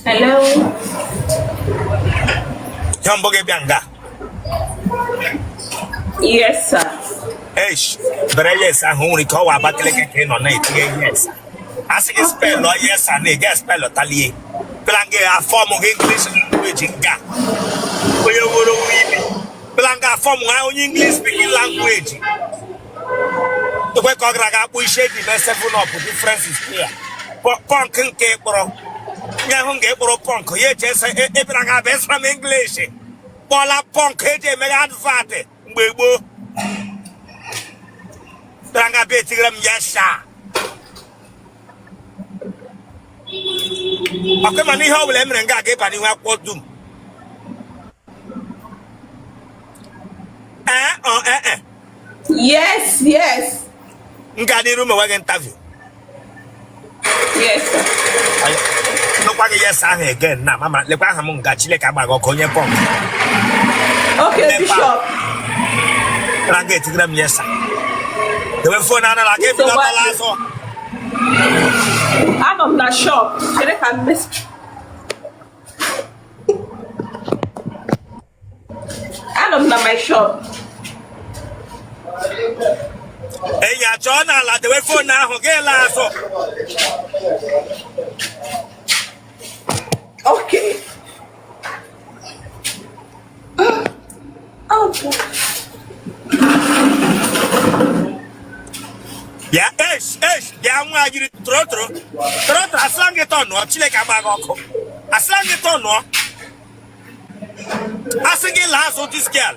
Hello. Ya mbọ gị bịa nga. Yes, sir. Eish, bere yes ahụ nwere ike ọ wụ Abakaliki ka ị nọ na-etinye yes. A sị gị spelụ yes a na-ege spelụ talie. Pịla gị afọ mụ gị English language nga. Onye wuru wuru ibi. bịala nga fọm ha onye English speaking language lekwe ka ọ gara aga akpụ isi e ji mee seven up difference is clear pọnk nke kpụrụ onye ahụ nke kpụrụ pọnk ya eche ese ị bịara nga abịa asụra m English kpụla pọnk e ji emeghe advat mgbe gboo bịara nga bịa etigara m yes sir ọkụ mana ihe ọ bụla e mere nga aga ịba n'ihu akwụkwọ dum ee ọ ee e yes yes m ga n'iru ma nweghị interview yes nụkwa gị yes ahụ again na mama lekwa aha m nga Chineke agbaghị ọkụ onye pọnk okay bishop na ga-etigara m yes a dewe fon a n'ala aga ebido ọtala azụ anọ m na shọp chere ka m anọ m na my shop enyi achọọ n'ala dewe fon ahụ gị laa azụ okay bịa esh esh bịa nwa jiri tụrụ tụrụ tụrụ tụrụ asịla gị tọnụọ chineke agbaghị ọkụ asịla gị tọnụọ asị gị laa azụ this girl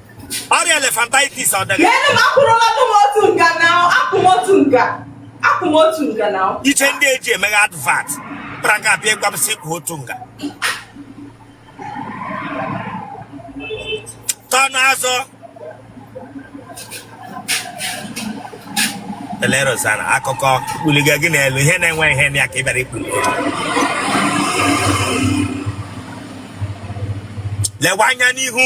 ọrịa elefantitis ọ ji gị Lee na akwụrụla nụ m otu nga na akwụ m otu nga akwụ m otu nga na iche ndị e ji emeghe advat kpara ka abịa ịgwa m sị kwụọ otu nga tọnụ azụ Tele Rosanna akụkọ kpuliga gị n'elu ihe na-enwe ihe na ya ka ị bịara ikpuli lewe anya n'ihu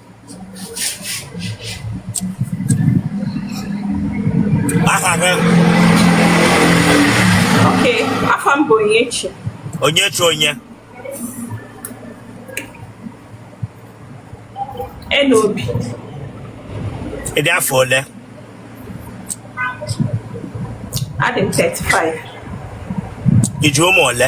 aha gị ok aha m bụ onyechi onyechi onye Nnobi ị dị afọ ole adị m 35 i ji ụmụ ole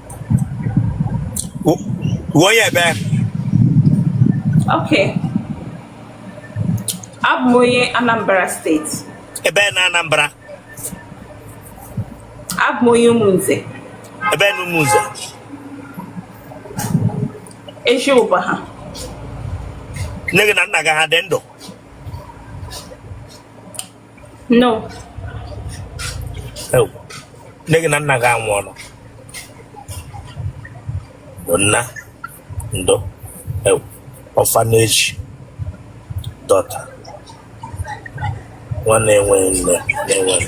W- Wụ onye ebee. Okay. Abụ m onye Anambra steeti. Ebee na Anambra. Abụ m onye Umunze. Ebee na Umunze. Eji Ubaha. Nne gị na nna gị ha dị ndụ. no Ewuu, nne gị na nna gị anwụọla bụ nna ndo ị wụ, orphanage daughter nwa na-enweghị nne na-enweghị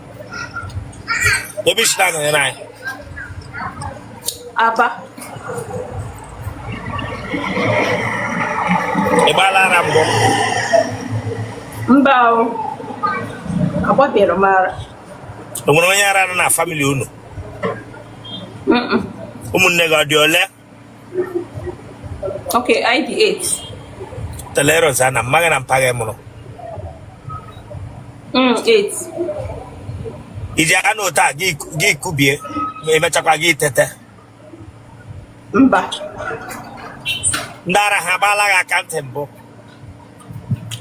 ebee i si na-anọnyere anyị Aba ị gbaala ara mbụ mba o agbabeghị m ara o nwere onye ara nọ na famili unu ụmụnne gị ọ dị ole Okay, ọ dị 8. Telero sana, mma gị na mpa gị ya mụrụ. Mm, 8. Ị ji anọkata gị kubie, emechakwa gị tete. Mba. Ndị ara ha agbaala gị aka ntị mbụ.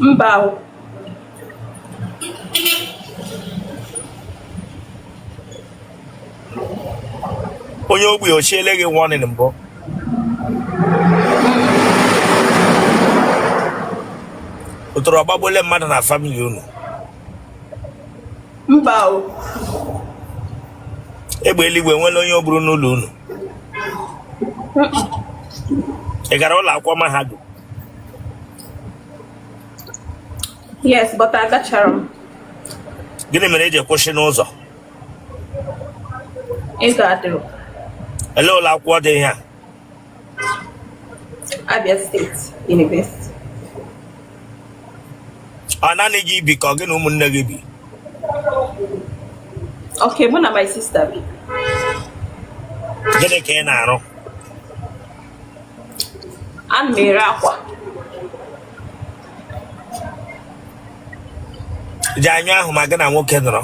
Mba. onye ogbi o chiele gị warning mbụ otoro ọ gbagbuole mmadụ na famili unu mba o egbe eluigwe nwere onye o gburu n'ụlọ unu ị gara ụlọ akwụkwọ mahadum yes but agacharọ m gịnị mere i ji kwụsị n'ụzọ Ego adịrọ. Elee ụlọ akwụkwọ dị ihe a? Abia State University. Ọ naanị gị bi ka ọ gị na ụmụnne gị bi? Okay, mụ na my sister bi. Gịnị ka ị na-arụ? Ana m ere akwa. ji anyụ ahụ ma gị na nwoke nọrọ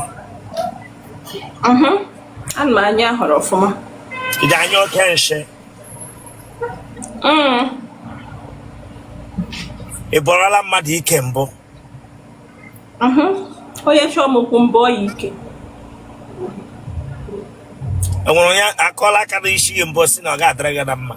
mhm. ana m anyụ ahụrụ ọfụma ji anyụ oke nshị mm. ị bọọla mmadụ ike mbụ mhm. onye chọọ m okwu m bọọ ya ike e nwere onye akụọla aka na isi gị mbụ sị na ọ ga-adịrị gị na mma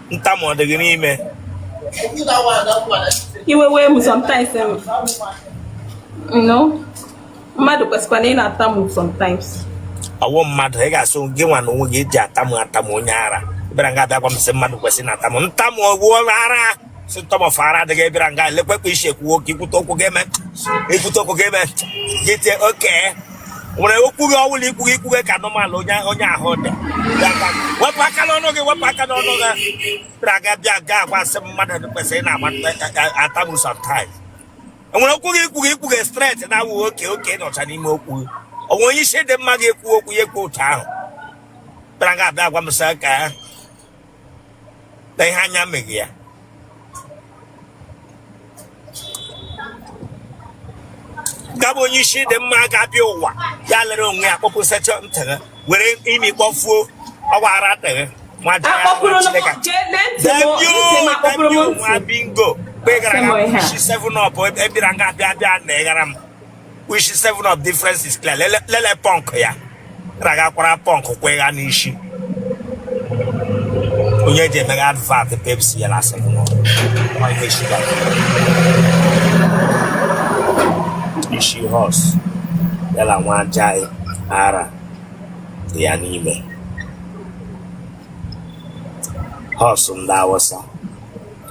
ntamu ọ dịghị n'ime iwe wee m sometimes no mmadụ kwesịkwa na ị na-atamu sometimes ọ wụ mmadụ ị ga-asụ gị nwa na onwe gị eji atamu atamu onye ara bịara nga a bịa gwa m sị mmadụ kwesịrị na-atamu ntamu ọgwụ ara si ntamu ọfọ ara adịghị bịara nga elekwe kpa isi ekwuwo ka ikwute okwu gị eme ikwute okwu gị eme gị tie oke nwere okwu gị ọwụla ikwu gị ikwu gị ka normal onye onye ahụ dị wepụ aka n'ọnụ gị wepụ aka n'ọnụ gị bịara nga a bịa gwa sị mmadụ kwesịrị na-atamu sometimes e nwere okwu gị ikwu gị ikwu gị straight na awụ oke oke nọcha n'ime okwu gị o nwe onye isi dị mma ga-ekwu okwu ya ekwu otu ahụ bịara nga a bịa gwa m sị ka na ihe anya meghị ya gabụ onye isi dị mma ga-abịa ụwa ya lere onwe ya kpọpusecha ntị gị were imi kpọfuo ọgbara atịghị nwa bingo kpegara na isi seven up bịara nga abịa abịa na ịghara m which is seven up difference is clear lele lele punk ya ragakwara punk kwegha n'isi onye eji emeghe advert pepsi ya na seven up nwa ihe shuga isi hose ya na nwa ajaghị ara dị ya n'ime hose ndị awụsa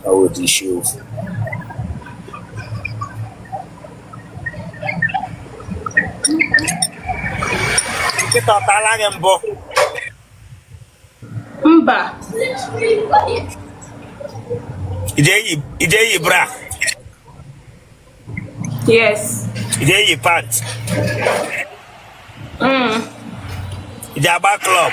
ọwụdị isi ofu nkịta ọ tala gị mbụ mba i ji eyi bra yes i ji eyi pant mm. i ji agba club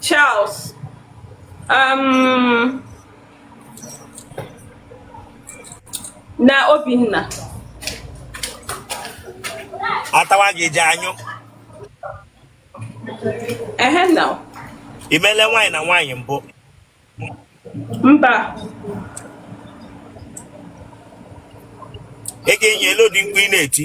Charles um, na Obinna atawa gị ji anyụ ehe na i mele nwaanyị na nwaanyị mbụ mba ị ga-enye ele ụdị mkpu ị na-eti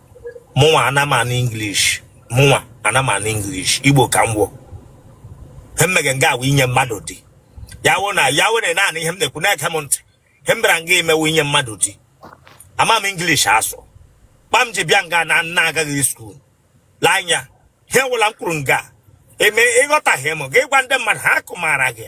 mụnwa ana m anụ English mụnwa ana m anụ English Igbo ka m gwọ ihe m mege nga a wụ inye mmadụ di ya wụ na ya were naanị ihe m na-ekwu na-ege m ntị ihe m bịara nga ime wụ inye mmadụ di ama m English asụ kpa m ji bịa nga na nna agaghị school lee anya ihe wụla m kwuru nga a ma ị ghọtaghị m ga ịgwa ndị mmadụ ha akọwara gị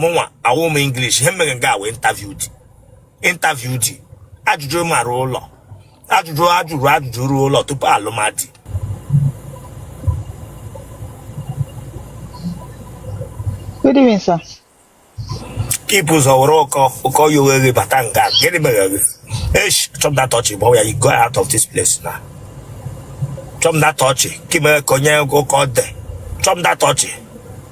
mụnwa awụ m English ihe m eme nga wụ interview di interview di ajụjụ mara ụlọ ajụjụ a jụrụ ajụjụ ruo ụlọ tupu alụmdi Good evening, sir. Keep ụzọ were ụkọ ụkọ ya oghere bata nga gịnị mere gị esh chọm na tọchị bụ ya go out of this place na chọm na tọchị ka mere ka onye ụkọ dị chọm na tọchị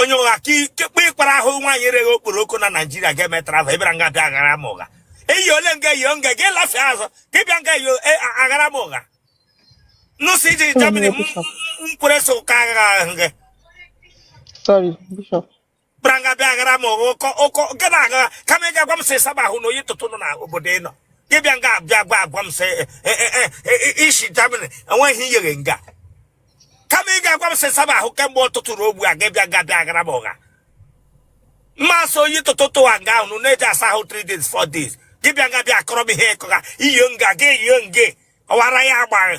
onye ụgha kekpe ịkpara ahụ nwaanyị ereghị okporoko na naijiria ga-eme travel ị bịara nga bịa aghara m ụgha eyi ole nga eyi nga gị lafe azụ ka ị bịa nga eyi e, aghara m ụgha nụsị iji Germany nkwere so ụka agha ahụ gị kpara nga bịa aghara m ụgha ụkọ ụkọ nke na-agha kama ị ga-agwa m sị saba ahụ na oyi tụtụ nọ n'obodo ị nọ gị bịa nga abịa gwa agwa m sị e, e, i si Germany enweghị ihe nga kama ị ga-agwa m sị ị saba ahụ kemgbe ụtụtụ ruo ugbu a gị bịa nga bịa ghara m ụgha ma sị oyi tụtụtụ a nga ahụ na-eji asa ahụ 3 days 4 days gị bịa nga bịa akọrọ m ihe ị kọga iyo nga gị iyo nge ọwara ya agbaghị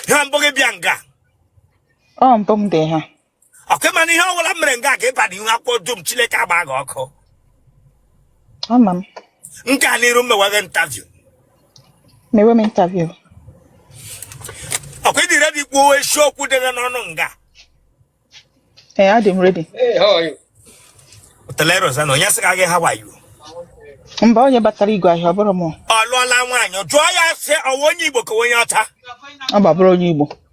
ha mbụ gị bịa nga ọ mbụ m dị ha ọkụ mana ihe ọbụla m mere nga ga-aba n'ihu akwụkwọ dum chineke agba gị ọkụ ama m nke a n'iru m mewa gị interview mewe m interview okay ị dị ready kwuo eziokwu dị gị n'ọnụ nga ee adị m ready Hey, how are you? teleroza na onye sị ka gị ha wayo mba onye batara igwe ahịa ọ bụrụ m ọ lụọla nwaanyị jụọ ya sị ọ wụ onye igbo ka onye ọcha ọ gbabụrụ onye igbo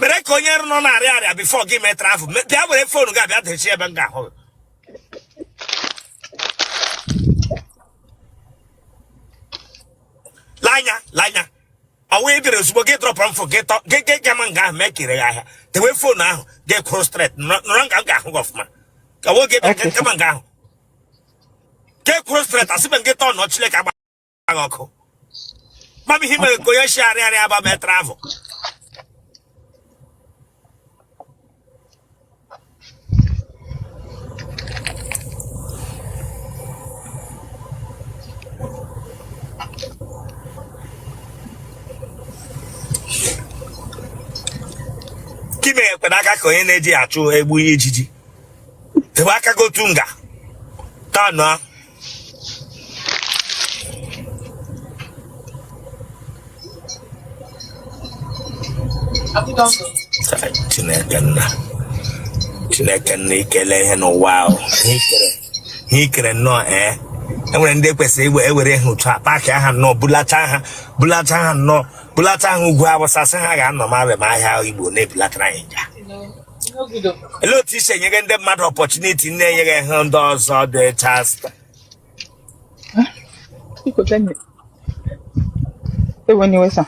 mere ka onye nọ na-arịa arịa before gị mee travel Me- bịa were phone gị abịa dechi ebe m ga-ahụ gị. lanya lanya ọ wụ ị bịara ozugbo gị drọpụrụ m phone gị tọ gị gị gama nga ahụ mee kere ya ahịa tewe phone ahụ gị kwụrụ straight nọrọ nga m ga-ahụ gị ọfụma ka ọ wụ gị bịa Okay, sir. gama nga ahụ gị kwụrụ straight asịbe m gị turn chileke agba gị ọkụ mana i mere ka onye si arịa arịa aba mee travel kime ekwe n'aka ka onye na-eji achụ egbu ijiji ebe aka gotu nga tanụ ahụ Chineke nna Chineke nna i kele ihe n'ụwa ahụ ihe i kere nnọọ ee eh? e nwere ndị kwesịrị iwe e were ha otu a paakịa ha nnọọ bulata ha bulata ha nnọọ bulata ha Ugwu Awụsa sị ha gaa nọ ma ahịa igbo na-ebulatara anyị nja Ele otu i si enye ndị mmadụ opportunity na-enyere ha ndị ọzọ dị echa asta. Iko tanye. Ewe ni wesa.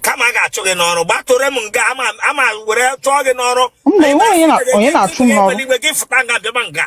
Kama a ga-achụ gị n'ọrụ, gbatụrụ m nga ama ama were chụọ gị n'ọrụ. Mba, enwe onye na- onye na-achụ m n'ọrụ. Igwe gị fụta nga bịaba nga.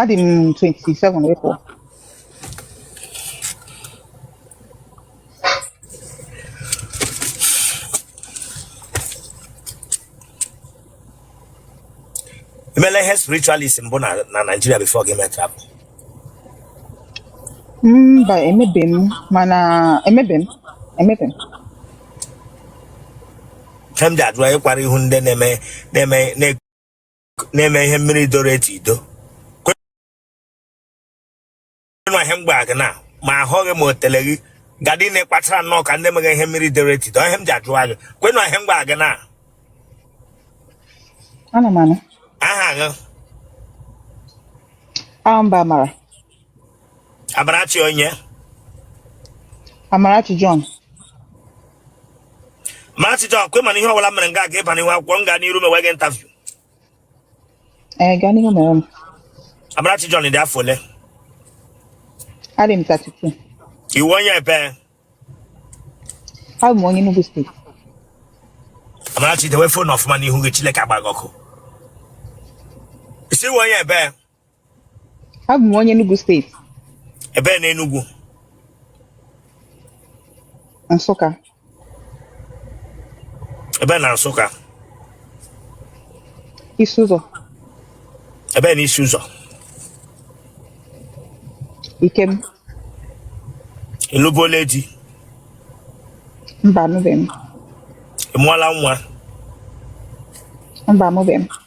adị m 27 wee pụọ i meela ihe spiritualist mbụ na na Naịjirịa before gị mee travel mba emebe m mana emebe m emebe m nke m ji ajụ i yikwara ihu ndị na-eme na-eme na na-eme ihe mmiri doro etu ido kwenụ ihe mgbe gị na ma ahụghị ma o tele gị gadị na ịkpachara nnọọ ka ndị meghị ihe mmiri doro etu ido ihe m ji ajụwa gị kwenụ ihe mgbe gị na Ana m anụ. aha gị Aha m bụ Amara. Amarachi onye? Amarachi John. Amarachi John, kwe mana ihe ọbụla mere nga aga ịba n'ihu akwụkwọ m gaa n'iru mewe gị interview. Ee, gaa n'ihu mere m. Amarachi John dị afọ ole? Adị m 32. Ị wụ onye ebe? Abụ m onye Enugu steeti. Amarachi dewe phone ọfụma n'ihu gị Chineke agba gị ọkụ. Ị sị ị wụ onye ebe? abụ m onye Enugu steeti ebee na Enugu Nsụka ebee na Nsụka Isi Ụzọ ebee na Isi Ụzọ Ikem ị lụbuola di mba anụbeghị m ị mụọla nwa mba amụbeghị m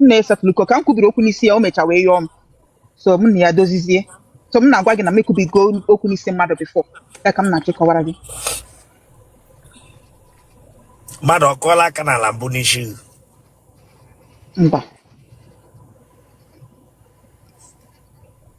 m na ya setụlụ okwu ka m kwubiri okwu n'isi ya o mecha wee yọọ m so m na ya dozizie so m na-agwa gị na m ekwubigo okwu n'isi mmadụ before ya ka m na-achọ ịkọwara gị mmadụ ọ kụọla aka n'ala mbụ n'isi gị mba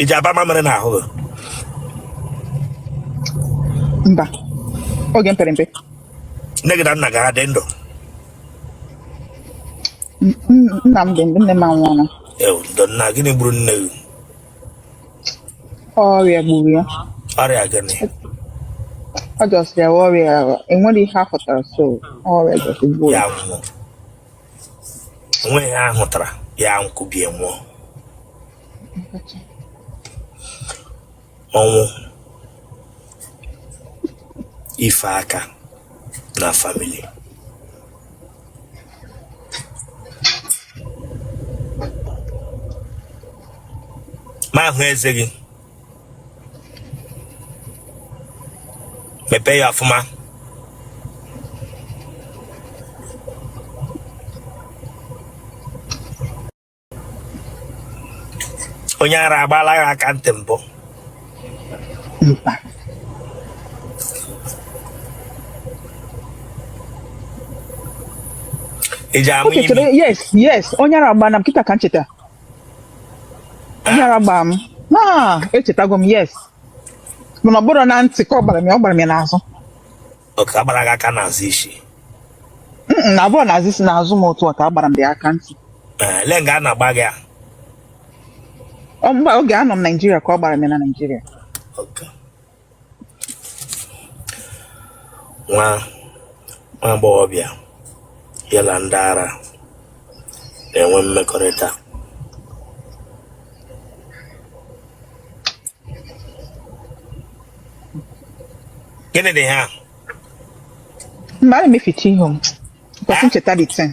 ị ji aba mamịrị n'ahụ mba oge m pere mpe nne gị na nna gị a dị ndụ nna m dị ndụ nne m anwụọla ndo nna gịnị gburu nne gị ọrịa gburu ya ọrịa gịnị ọ just rịa ọrịa e nwere ihe a fụtara so ọrịa just gburu ya o nweghị ihe a hụtara ya ekubie nwụọ ọnwụ ife aka na famili ma ahụ eze gị mepee ya ọfụma onye ara agbaala gị aka ntị mbụ ị ji ama imi yes yes onye ara agbaana m kịta ka m cheta Onye ara gbara m. Ah, echetago m yes. Mana ọ bụrọ na ntị ka ọ gbara m ya, ọ gbara m ya n'azụ. oke a gbara gị aka n'azụ isi Mm, Na ọ bụrọ n'azụ isi n'azụ m otu a ka a gbara m the aka ntị. Ee, olee nga a nọ gbaa gị ya Ọ mgbe oge anọ m Naịjirịa ka ọ gbara m ya na Naịjirịa. Oke. nwa nwa agbọghọbịa ya na ndị ara na-enwe mmekọrịta gịnị dị ha mgbe a na-emeficha ihu m kwesị icheta this thing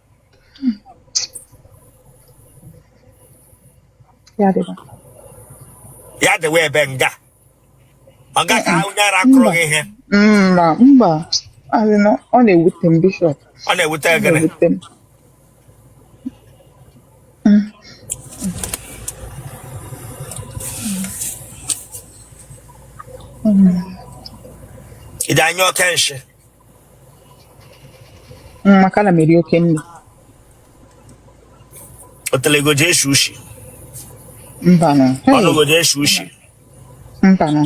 Ya dịba. ya dịwa ebe nga ọ gaghị ahụ onye ara kụrụ gị ihe Mba, mba. A sị na ọ na-ewute m bishọp. ọ na-ewute Ọ gịnị na-ewute m. ị ji anyụ oke nshị Mm, maka na m eri oke nri otele gị ọ ji eshi ushi mbanụ Hey, ọnụ gị ọ ji eshi ushi mbanụ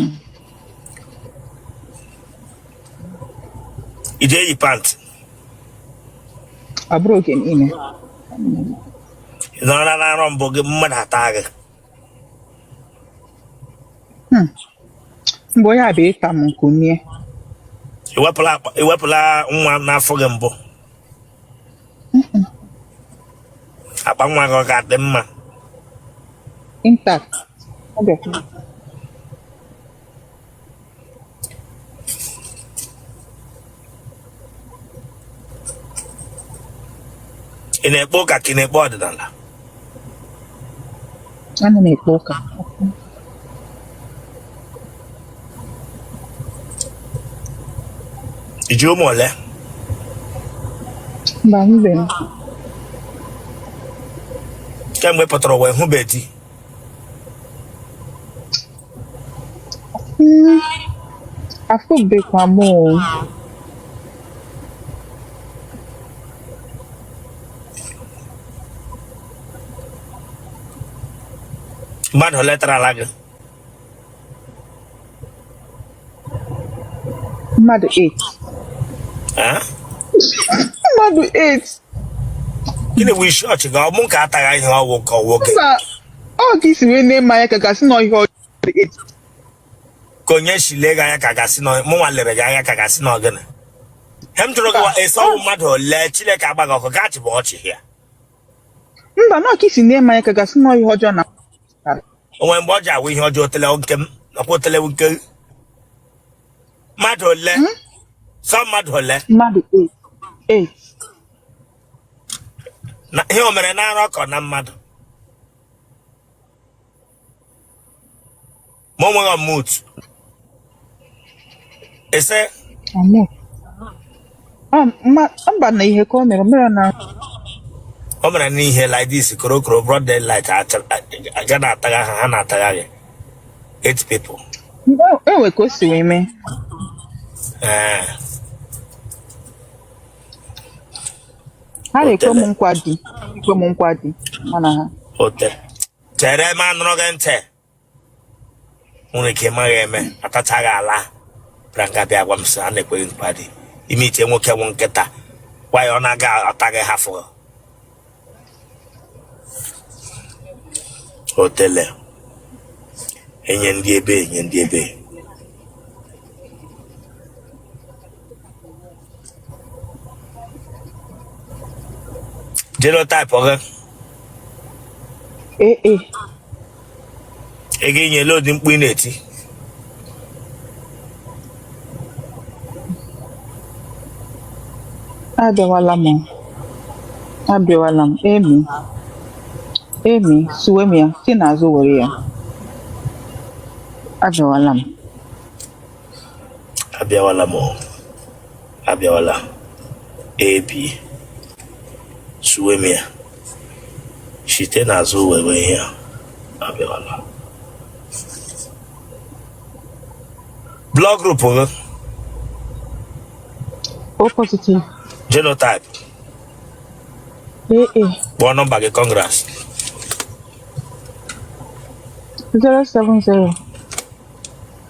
ị ji eyi pantị ọ bụrọ oge niile nọrọ na arọ mbụ gị mmadụ ata gị Hmm. mgbe onye a bụ ịta m nkumie i wepụla akpa- i wepụla nwa n'afọ gị mbụ akpa nwa gị ọ ga-adị mma intact ọ bịakwa ị na-ekpe ụka ka ị na-ekpe ọdịnala ana m ekpe ụka i ji ụmụ ole mba mbe m kemgbe ị pụtara ụwa ị hụbe di Hmm, afụbekwa m o. mmadụ ole tarala gị mmadụ 8 mmadụ 8 gịnị bụ isi ọchị gị ọ mụ ka ataghị ihe ọ wụ ka ọ wụ gị ọ ka i si wee nee m anya ka ga-asị na ihe ọchị ka onye si lee gị anya ka ga-asị na mụ nwa lere gị anya ka ga-asị na ọ gịnị ihe m jụrụ gị wa esi ọ wụ mmadụ ole chineke agba gị ọkụ gaachị bụ ọchị ya mba na ọ ka i si nee m anya ka ga-asị na ihe ọjọọ na o nwere mgbe ọ ji awụ ihe ọjọọ otele nke m nakwa otele nke mmadụ ole hmm? sọ mmadụ ole mmadụ ihe o mere na nrọ ka ọ na mmadụ ma ọ nweghị ama otu esi amụ. Ah, mma- mba na ihe ka o mere o mere na o mere n'ihe like this korokoro broad daylight acha- a- ga na-atagha ha ha na-atagha gị eight people e- e nwe ka o si wee mee ee ha na-ekwe m otele nkwa di ekwe m nkwa di mana ha ote chere ma anụrụ gị ntị nwere ike maghị eme atachaa gị ala bịara nga bịa gwa m sị a na-ekwe gị nkwa di ị na-eche nwoke wụ nkịta gwa ya ọ na-aga atagha ha fụrụ otele enye ndị ebe enye ndị ebe genotype gị AA. ị ga-enye load mkpu ị na-eti abịawala m abịawala m emi emi suwe m ya si n'azụ were ya abịawala m abịawala m abịawala ab suwe m ya site n'azụ were ihe abịawala blood group gị O positive genotype AA kpọọ nọmba gị congress 070